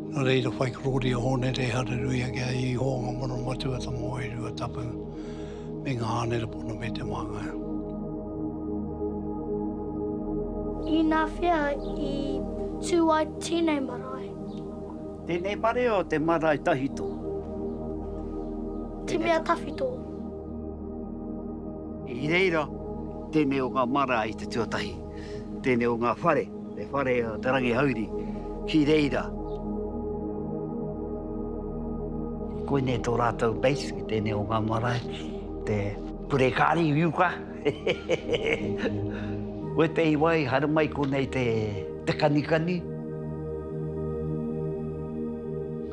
Nō reira, whai korōri a Hōne Rē Hareruia ki a Ihō ngā mano matua tō Moe Ruatapu me ngā hānera pono me te māngai. Inā whea i tū ai tēnei marae? Tēnei marae o te marae tahito. Te mea tawhito. I reira, tēnei o ngā marae i te tuatahi. Tēnei o ngā whare, he whare o Te Rangihauri ki reira. Koinei tō rātou base, ki tēnei o ngā marae, te purekāri uka. Wētehi wā i haere mai konei te kanikani,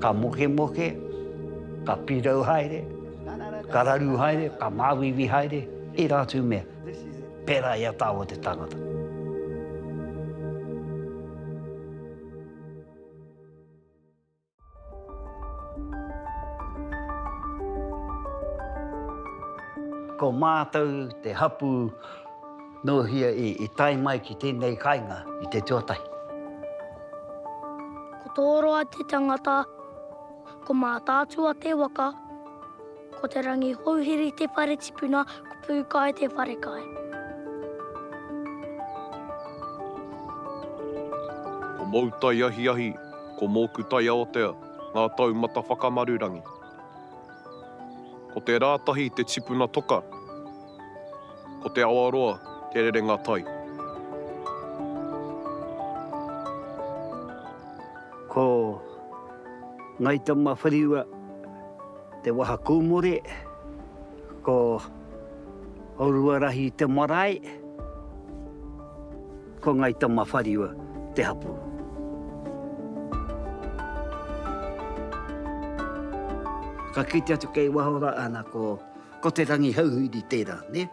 ka mokemoke, ka pirau haere, ka raru haere, ka māuiui haere, tērā atu mea. pērā i a tāua te tangata. Ko mātou te hapū nōhia i tae mai ki tēnei kainga i te tuatahi. Ko tō roa te tangata, ko Mātaatua te waka. Ko Te Rangihouhiri te whare tipuna, ko Pūkai te wharekai. Ko mou taiahiahi, ko mōku taiaotea, ngā taumata whakamarurangi. Ko Te Rātahi te tipuna toka, ko Te Awaroa te rerenga tai. Ko Ngāi Tamawhariua Te Waha Kūmore, ko Oruarahi te marae, ko Ngai Tamawhariwa te hapū. Ka kite atu kei waho rā, ana ko, ko Te Rangihouhiri tērā, nē.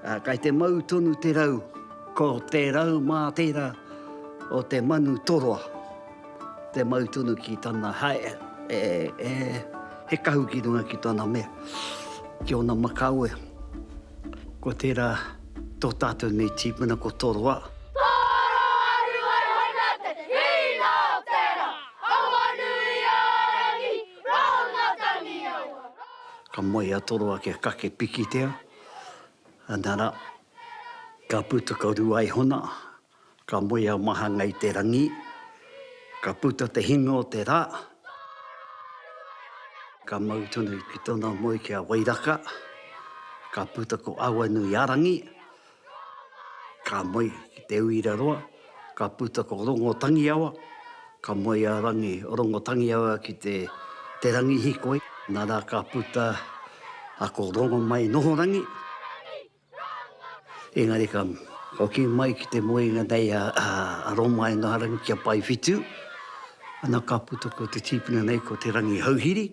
Ā, kei te mau tonu te rau, ko te rau mā tērā o te manu toroa. Te mau tonu ki tana hae, he kahu ki runga ki tana mea, ki ona makawe. Ko tera to tatou nei tipuna ko Toroa. Ka moe a Toroa kia kake pikitia, ana ra, ka puta ko Ruaihona, Ka moe a Mahanga i te rangi, ka puta te hinga o te ra, ka mau tonu ki tona moe ki a Wairaka, ka puta ko Awanuiarangi, ka moe ki Te Uiraroa, ka puta ko Rongotangiawa, ka moe a Rangi Rongotangiawa ki Te Rangihikoi, nara ka puta a ko Rongomainohorangi. Engari ka hoki mai ki te moenga nei a Roma Engarangi ki a Paewhitu, ana ka puta ko te tīpuna nei ko Te Rangihouhiri.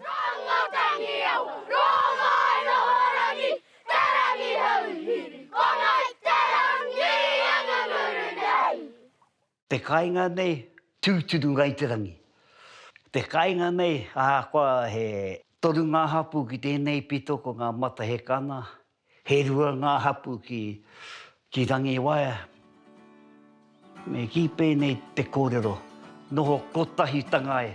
Te kāinga nei, tūturu Ngāi Te Rangi. Te kāinga nei, ahakoa he toru ngā hapū ki tēnei pito ko ngā Matahekana, he rua ngā hapū ki, ki Rangiwaea, me kī pēnei te kōrero, noho kotahitanga e.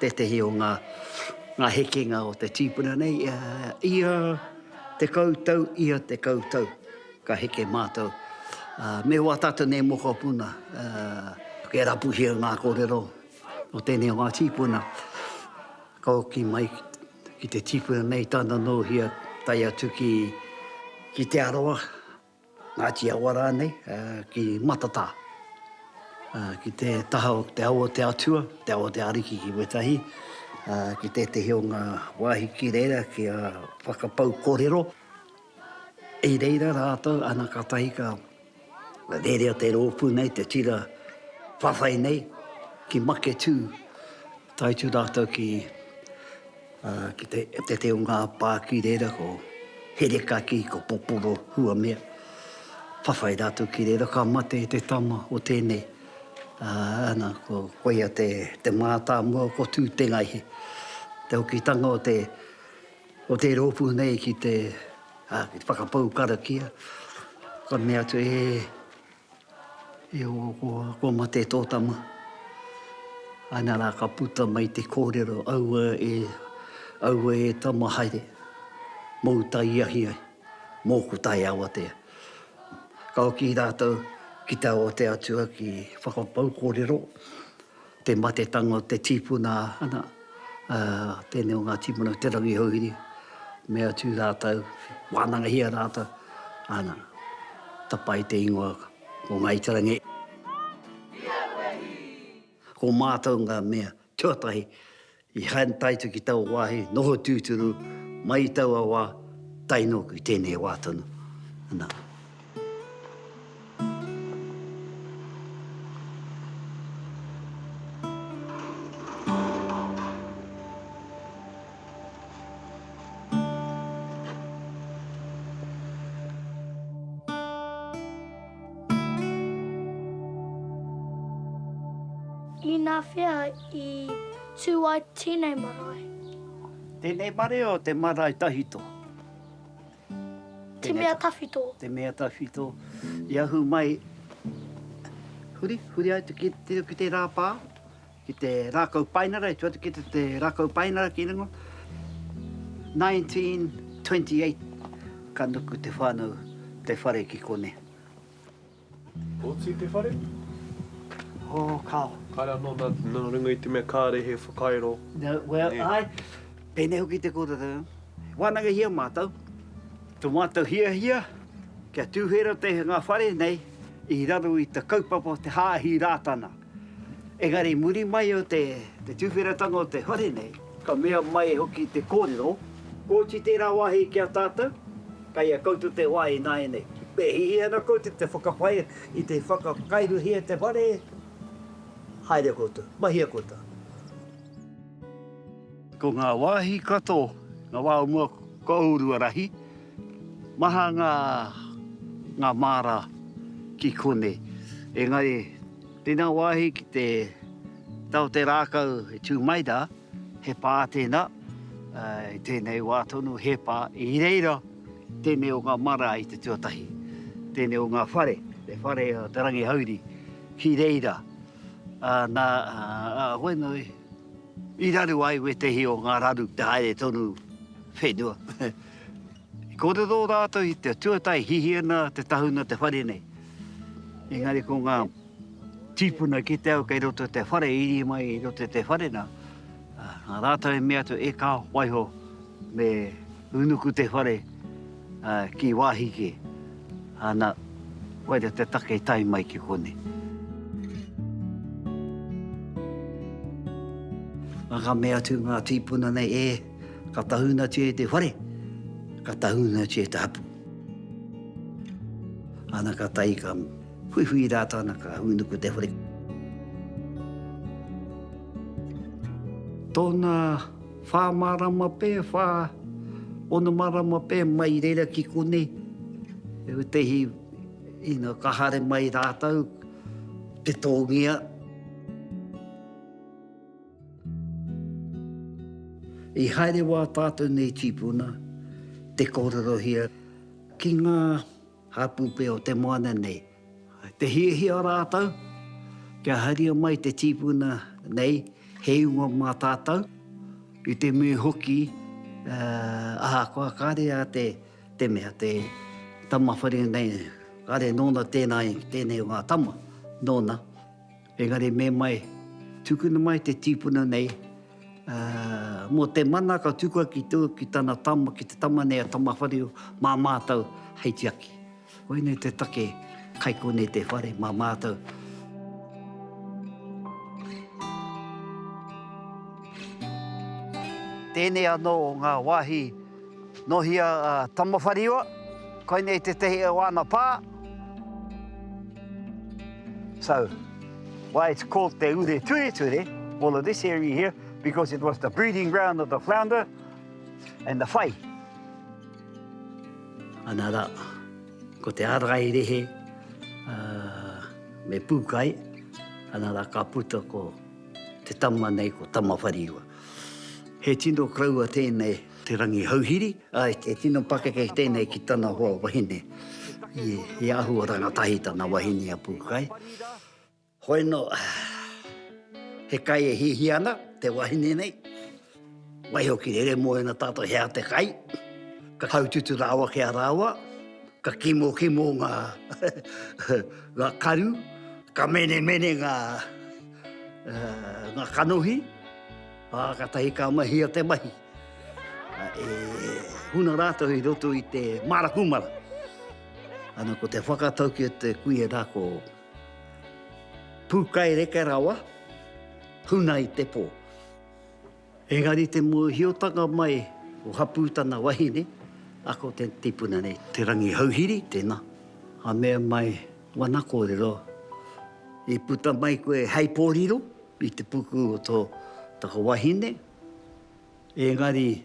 Tētehi o ngā ngā hekenga o te tīpuna nei, ia tekau tau, ia tekau tau ka heke mātou. Me wā tātou nei mokopuna e rapuhia ngā kōrero o tēnei o ngā tīpuna ka hoki mai ki te tīpuna nei tāna nōhia tae atu ki Te Arawa. Ngāti Awa rānei, ki Matatā, ki te taha o te Awa o te Atua, te Awa o te Ariki ki wētahi, ki tētehi o ngā wāhi ki reira kia whakapau korero i reira rātou, ana katahi ka rerea te rōpū nei, te tira whawhai nei ki Maketū. Tae atu rātou ki te reo ngāpā ki reira ko Herekaki, ko Poporo, hua mea. Whawhai rātou ki reira ka mate te tama o tēnei. Ana, koia te mātāmua ko Tūtengaihe. Te hokitanga o te rōpū nei ki te whakapau karakia, ka mea atu, e. E hoa koa, kua mate tō tama. Ana rā ka puta mai te kōrero, aua e, aua e tama haere, mōu tae ahi ai, mōku tae awatea. Ka hoki rātou ki te awatea atua ki whakapau kōrero. Te matetanga o te tīpuna ana, ā, tēnei o ngā tīpuna o Te Rangi Houhiri, me atu rātou, wānangahia rātou, ana, tapa ai te ingoa ko Ngāi Te Rangi. Ko mātou ngā mea tuatahi I haere taito ki taua wāhi, noho tūturu mai i taua wā, tae nōku i tēnei wā tonu. Ana. Inā whea I tū ai tēnei marae. Tēnei mareo te marae tahito. Te mea tawhito. Te mea tawhito. I ahu mai, huri, huri ai te kite ki te rā pā, ki te rākau painara, i tuatu ki te rākau painara ki ringo. 1928, ka nuku te whānau, te whare ki kone. Oti te whare? O, kao. Kai rā nō nā, nā runga i te mea kāre he whakairo. No, well, Nē. āe, pēnei hoki te kōtatau. Wānangahia mātou, tō mātou hiahia, kia tūhera te, ngā whare nei i raro i te kaupapa o te Hāhi Rātana. Engari muri mai o te tuwheratanga o te whare nei, ka mea mai hoki te kōrero, Kooti tērā wāhi ki a tātou, kei a koutou te wā ināianei. Me hihi ana koutou te whakapae i te whakakairuhia te whare, haere koutou, mahia koutou. Ko ngā wāhi katoa, ngā wā o mua, kua ūrua rahi. Maha ngā, ngā māra ki konei. Engari, tēnā wāhi ki te tau o te rākau e tū mai rā, he pā tēnā, i tēnei wā tonu, he pā i reira tēnei o ngā māra i te tuatahi, tēnei o ngā whare, te whare o Te Rangihauri ki reira. Nā, a Hoenui, I raru ai wētehi o ngā raru te haere tonu whenua. I kōrero rātou i te tuatae hihi ana te tahuna te whare nei. Engari ko ngā tīpuna ki te au kei roto te whare, iri mai i roto te whare nā, nā rātou i mea atu, e kā waiho me Unuku te whare ki wāhi kē. Ana, koira te take i tae mai ki konei. Nā ka mea atu ngā tīpuna nei, E, ka tahunatia e te whare, ka tahunatia e te hapū. Ana ka tae ka huihui rātou, ana ka unuku te whare. Tōna. Whā marama pē, whā, ono marama pē mai reira ki konei, e utehi ina ka hare mai rātou te tōngia. I haere wā tātou nei tīpuna te kōrerohia ki ngā hāpūpē o te moana nei. Te hiahia rātou kia haria mai te tīpuna nei he ingoa mā tātou, i te mea hoki ahakoa kāre a te mea, te tama whare nei, kāre nōna tēnā i tēnei o ngā tama, nōna. Engari me mai, tukuna mai te tīpuna nei mō te mana ka tukua ki tana tama, ki te tama nei a Tamawharero mā mātou hei tiaki. Koinei te take, kai konei te whare mā mātou. Tēnei anō ngā wāhi nōhi a Tamawhariua, koinei tētehi o āna pā. So, why it's called Te Ure Tureture, all of this area here, because it was the breeding ground of the flounder and the whai. Ana ra, ko te arai rehe me Pukai, ana ra ka puta ko te tama nei ko Tamawhariua. He tino kraua tenei te Rangihouhiri, ae he tino pakeke tenei ki tana hoa wahine, i ahua rangatahi tana wahine a Pukai. Hoi no, he kai e hihia ana te wahine nei, waiho ki rere moena tatou hea te kai, ka haututu rawa ki a rawa, ka kimokimo nga karu, ka menemene nga kanohi, a katahi ka mahia te mahi. E huna ratou i roto i te marakumara, ana ko te whakatau ki te kuia ra ko. Pūkaireke rawa, huna i te pō. Engari te mōhiotanga mai o hapū tana wahine, a ko te tipuna nei. Te Rangihouhiri, tēnā. Ka mea mai, Wana kōrero, i puta mai koe hei pōriro i te puku o tō taku wahine, engari.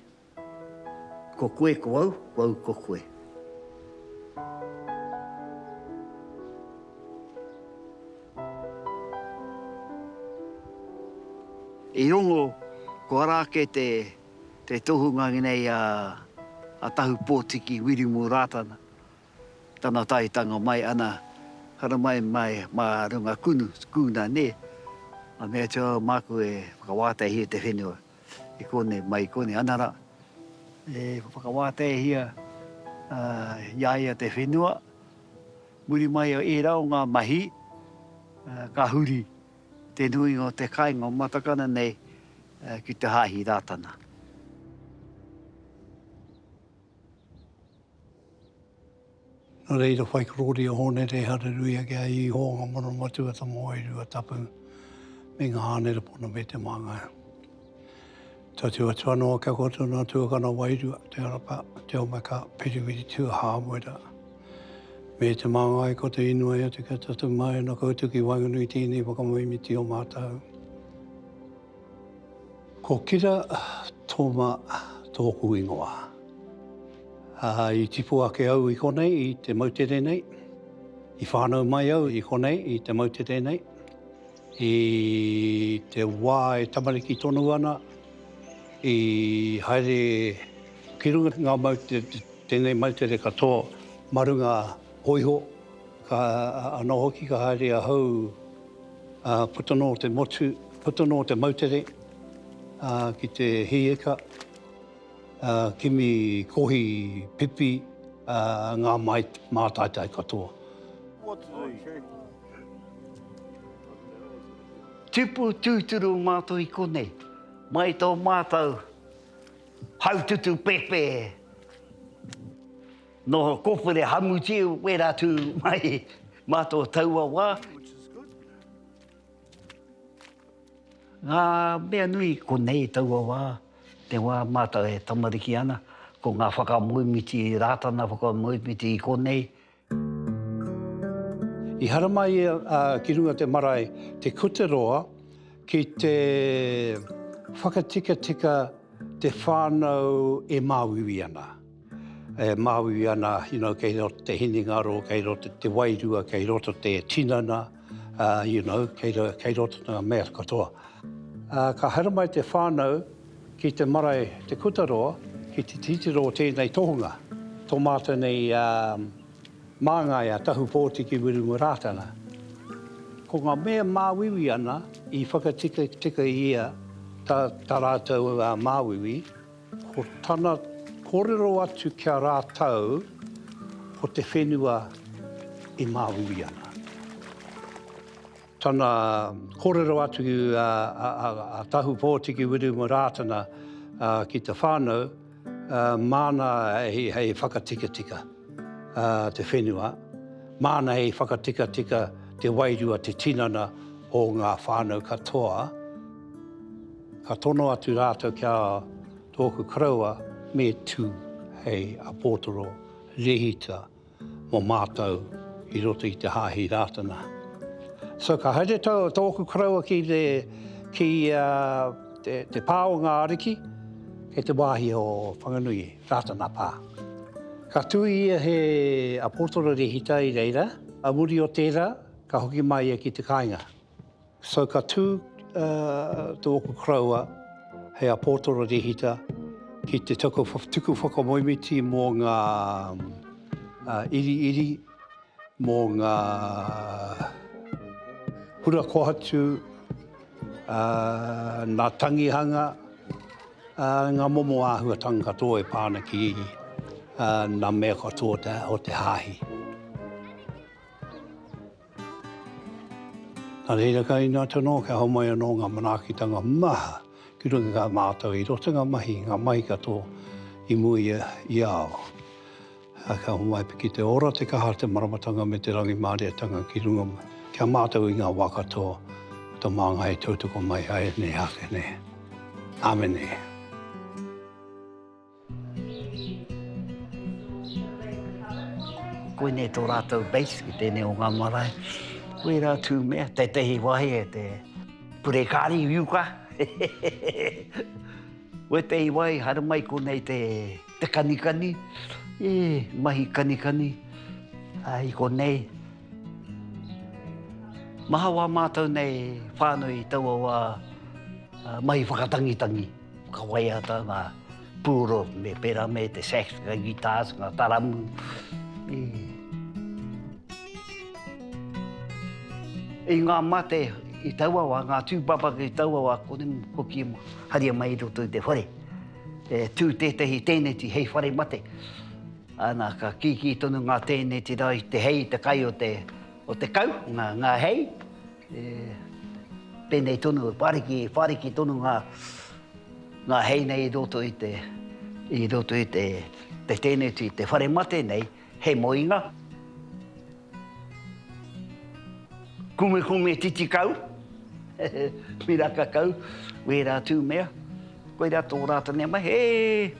Ko koe ko au, ko au ko koe. I rongo, ko ara ake te tohunga nei a Tahupōtiki Wirimu Rātana, tana taetanga mai ana haramai mai mā runga kūna, nē, a mea atu au māku e whakawātehia te whenua. I konei, mai i konei, ana rā. E whakawāteihia i a ia te whenua, muri mai o ērā o ngā mahi, ka huri te nuinga o te kāinga o Matakana nei ki te Hāhi Rātana. Nō reira, whai korōri a Hōne Rē Hareruia ki a Īhō ngā mana matua tō Moai Ruatapu me ngā ānerepona me te māngai. Tatū atu anō kia kōrero nā tuakana wairua, Te Arapa, Te Omeka, Piriwiri, Tua Hāmura. Me te māngai ko te inoi atu kia tatū mai ana koutou ki waenganui i tēnei whakamaimiti o mātou. Ko Kira Toma tōku ingoa. I tipu ake au i konei i te moutere nei, i whānau mai au i konei i te moutere nei. I te wā e tamariki tonu ana, i haere ki runga ngā moutere, tēnei moutere katoa ma runga hōiho. Ka anō hoki ka haere ahau, ā, puta noa o te motu, puta noa o te moutere, ā, ki te hieka, ā, kimi kohi pipi, ā, ngā māi, mātaitai katoa. Tipu tūturu o mātou i konei, mai tō mātou haututu pēpē. Noho kōpere hamuti wērā tū mai mā tō taua wā. Ngā mea nui konei taua wā, te wā mātou e tamariki ana, ko ngā whakamoemiti Rātana, whakamoemiti i konei. I haramai ia ki runga te marae Te Kuteroa ki te whakatikatika te whānau e māuiui ana. E māui ana you kei roto te hinengaro, kei roto te wairua, kei roto te tinana, you know, kei roto ngā mea katoa. Ka haramai te whānau ki te marae Te Kutaroa ki te titiro o tēnei tohunga, tō mātou nei māngai a Tahu Pōtiki Wiremu Rātana. Ko ngā mea māuiui ana i whakatika tika i ia tā rātou māuiui, Ko tana korero atu ki a ratou ko te whenua e maui ana. Tana korero atu a Tahu Potiki Wiremu Ratana ki te whanau mana hei whakatikatika te whenua, mana hei whakatikatika te wairua te tinana o nga whanau katoa. Ka tono atu rātou ki a tōku koroua, me tū hei apōtoro rehita mō mātou i roto i te Hāhi Rātana. So ka haere tōku koroua ki te, ki a, te, te pā o ngā ariki, e te wāhi o Whanganui, Rātana pā. Ka tū ia he apōtoro rehita i reira, a muri o tērā, ka hoki mai ia ki te kāinga. So ka tū tō oku koroua hei a Pōtoro Rehita ki te tuku whakamoemiti mō ngā iriiri, mō ngā hura kohatu, nā tangihanga, ngā momo āhuatanga katoa e pā ana ki ngā mea katoa o te Hāhi. Nā reira ka inu atu anō kia homai anō ngā manaakitanga maha ki runga i kā mātau i roto i ngā mahi, ngā mahi katoa i mua i a, i a au. Ā, ka homai pea ki te ora, te kaha, te maramatanga me te rangimārietanga ki runga ki a mātau i ngā wā katoa o tō māngai e tautoko mai ai nei ake nei. Āmene. Koinei tō rātou base ki tēnei o ngā marae. Koirā tū mea, tētehi wāhi e te purekāri uka. Wētehi wāhi haere mai konei te kanikani, e, mahi kanikani, ā, i konei. Maha wā mātou nei whānui i taua wā mahi whakatangitangi. Ka waiata ngā pūoro me pērā me te sax, ngā guitars, ngā taramu. I ngā mate i taua wā, ngā tūpapa ki taua wā, kore mō koki e haria mai i roto i te whare. E tū tētahi tēneti hei whare mate. Ana, ka kīkī tonu ngā tēneti rā i te hei, te kai o te kau, ngā hei. E penei tonu, whariki, whariki tonu nga, nga hei nei i roto i te, i roto i te, te teneti, i te whare mate nei, he moinga. Kume kume titi kau, miraka kau, wera tu mea, koira to ratou nei mahi, e,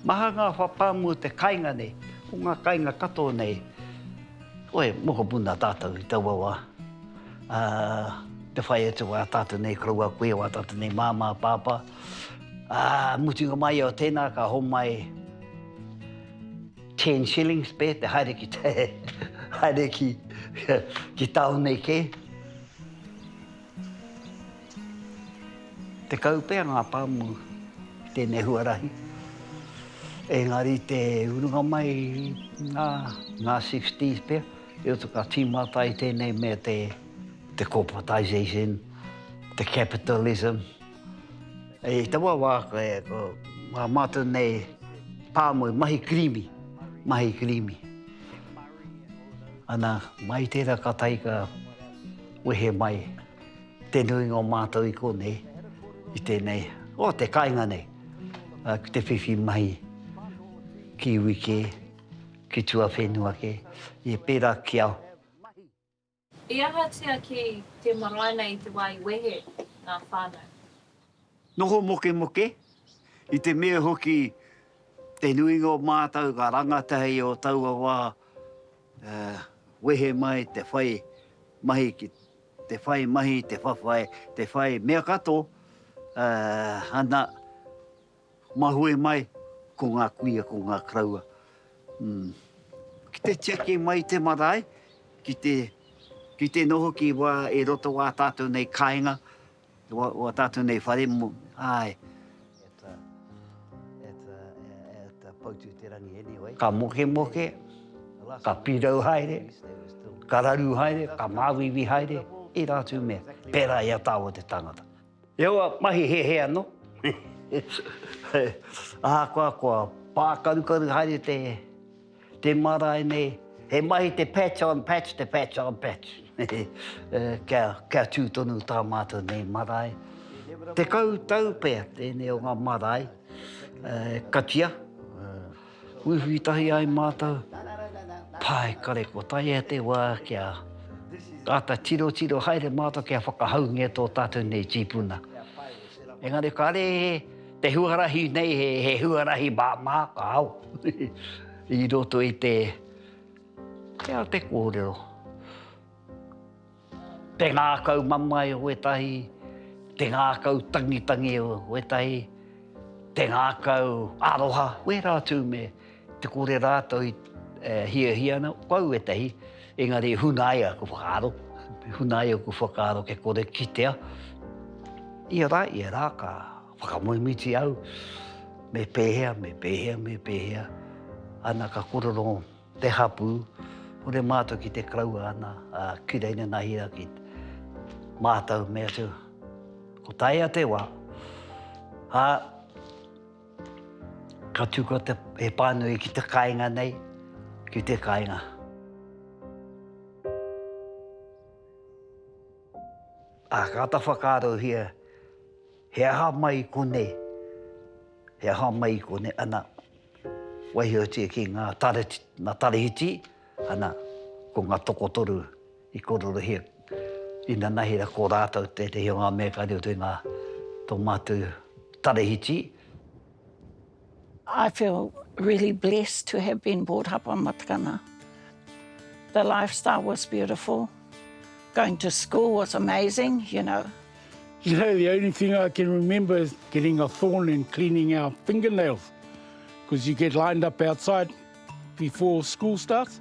maha nga whapamua te kainga nei, ko nga kainga katoa nei, Koe, mokopuna tātou i taua wā, ā, te whai atu wā tātou nei koroua kuia, wā tātou nei māmā, pāpā, ā, mutunga mai o tēnā ka homai ten shillings pē te haere ki te, haere ki, ki tāone kē. Tekau pea ngā pāmu i tēnei huarahi, engari te urunga mai i ngā sixties pea, i roto ka tīmata ai tēnei mea te corporatisation, te capitalism. I taua wā ko ngā mātou nei pāmu i mahi kirīmi, mahi kirīmi. Ana, mai tērā ka taika. Wehe mai te nuinga o mātou i konei, i tēnei, o te kainga nei, ki te whiwhi mahi ki iwi kē, ki tuawhenua kē, i pērā ki a. I ahatia ki te marae nei i te wā i wehe ngā whānau? Noho mokemoke, i te mea hoki te nuinga o mātou ka rangatahi o taua wā wehe mai te whai mahi ki te whai mahi, te whawhai, te whai mea kato, ana, mahue mai ko ngā kuia, ko ngā karaua. Ki te tiaki mai i te marae, ki te noho ki wā i roto wā tātou nei kāinga, Ua tātou nei whare mo, āe. Ka mokemoke, ka pirau haere, ka raru haere, ka māuiui haere, ērā atu mea, pērā i a tāua te tangata. Heoi, mahi hehe anō. Ahakoa kua pākarukaru haere te. Te marae nei, he mahi te patch on patch, te patch on patch. Kia tū tonu tā mātou nei marae. Tekau tau pea tēnei o ngā marae e katia, uiui tahi ai mātou, pae kare kua taea te wā kia āta tirotiro haere mātou kia whakahaungia tō tātou nei tīpuna. Engari kāre he. Te huarahi nei he huarahi māmā ka ao i roto i te te ao te kōrero. Te ngākau mamae o ētahi, te ngākau tangitangi o ētahi, te ngākau aroha, wērā atu me. Te kore rātou i hiahia ana, ko au ētahi, engari hunaia aku whakaaro, hunaia aku whakaaro kia kore kitea. Ia rā, ia rā, ka whakamoemiti au, me pēhea, me pēhea, me pēhea, ana ka kōrero te hapū, hore mātou ki te karaua ana, ki reira nā hira, ki mātou, mea atu, ko taea te wā, ā, Ka tukua te, he pānui ki te kāinga nei, ki te kāinga. A ka ata whakaarohia, he aha mai i konei, he aha mai i konei, ana, waihotia ki ngā tarehiti, ana, ko ngā tokotoru. I kōrerohia inanahi ko rātou tētehi o ngā mea kare o te ngā tō mātou tarahiti. I feel really blessed to have been brought up on Matakana. The lifestyle was beautiful. Going to school was amazing, you know. You know, the only thing I can remember is getting a thorn and cleaning our fingernails because you get lined up outside before school starts.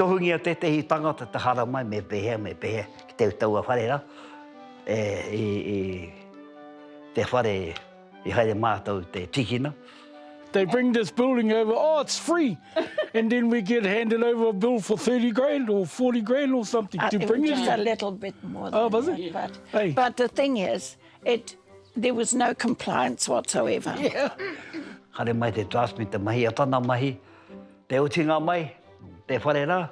Tohungia tētehi tangata te haramai me pēhea, me pēhea ki te taua whare rā, i te whare i haere mātou te tīkina. They bring this building over, oh it's free, and then we get handed over a bill for thirty grand or forty grand or something to bring it here. It was just a little bit more than that, but the thing is, It, there was no compliance whatsoever. Haere mai te draft me te mahi a tana mahi, te utinga mai, te whare ra,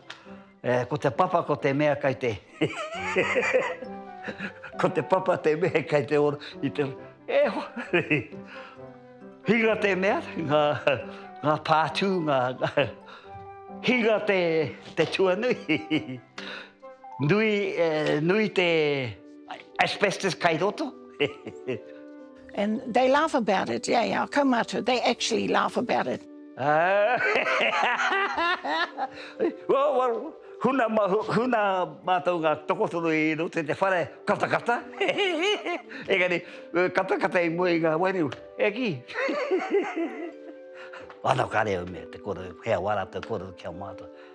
eh, ko te papa ko te mea kai te ko te papa te mea kai te ora, i te, e ho, hinga te mea, nga, nga pātū, nga, hinga te, te tuanui, nui, eh, nui te, Asbestos kai roto And they laugh about it, yeah, yeah, kaumātua, they actually laugh about it. Well, huna mātou ngā tokotoru i roto i te whare katakata. Engari, katakata i mua i ngā wairua, e kī. Anō, kāre au mea te kōrero, he au ā rātou kōrero ki a mātou.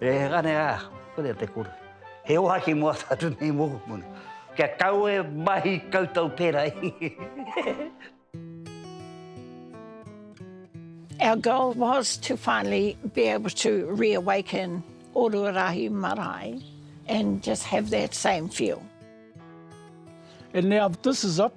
Ehana a, korea te kore. He ohaki mo ata atu nei mokopuna. Kia kawe mahi koutou pera i. Our goal was to finally be able to reawaken Orua Rahi Marae and just have that same feel. And now this is up,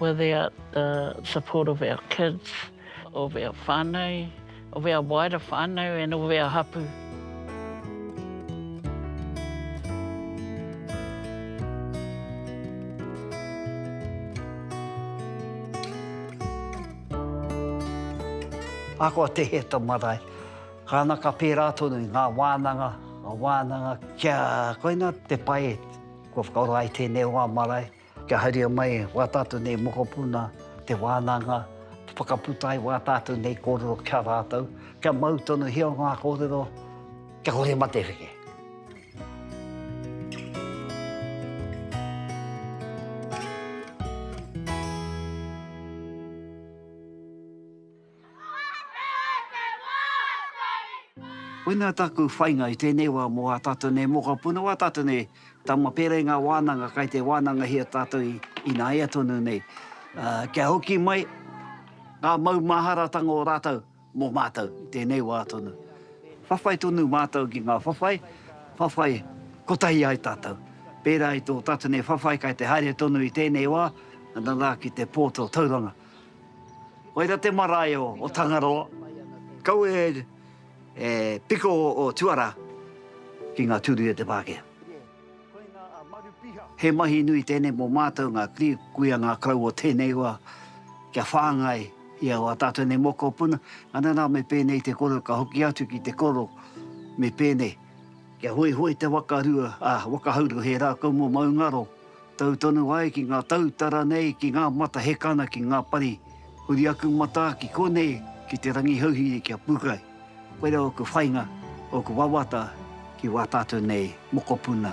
Without the support of our kids, of our whanau, of our wider whanau and of our hapu. Ahakoa te hē tō marae, kāna ka pērā tonu i ngā wānanga, ngā wānanga kia koinā te pae kua whakaora ai tēnei o ngā marae. Kia haria mai wā tātou nei mokopuna te wānanga, whakaputa ai wā tātou nei kōrero ki a rātou, kia mau tonuhia ngā kōrero, kia kore matewheke. Koinā tāku whainga i tēnei wā mō ā tātou nei mokopuna, wā tātou nei tama pērā i ngā wānanga kai te wānangahia tātou i ināia tonu nei, kia hoki mai ngā maumaharatanga o rātou mō mātou i tēnei wā tonu. Whawhai tonu mātou ki ngā whawhai, whawhai kotahi ai tātou, pērā i tō tātou nei whawhai kai te haere tonu i tēnei wā, nana rā ki te pō tō Tauranga. Koira te marae o Tangaroa. Kaua e piko o Tuara ki nga turi o te Pakea. He mahi nui tenei mo matou nga kuia nga kau o tenei wa kia whangai i aua tatou nei mokopuna, anana me penei te koro ka hoki atu ki te koro me penei. Kia hoihoi te wakarua, ā, wakahauru he rākau mō Maungaro, tau tonu ai ki ngā tautara nei, ki ngā mata hekana, ki ngā pari, huri aku matā ki konei, ki te rangi hauhiri ki a Pūkai. Koirā ōku whainga, ōku wawata ki wā tātou nei mokopuna.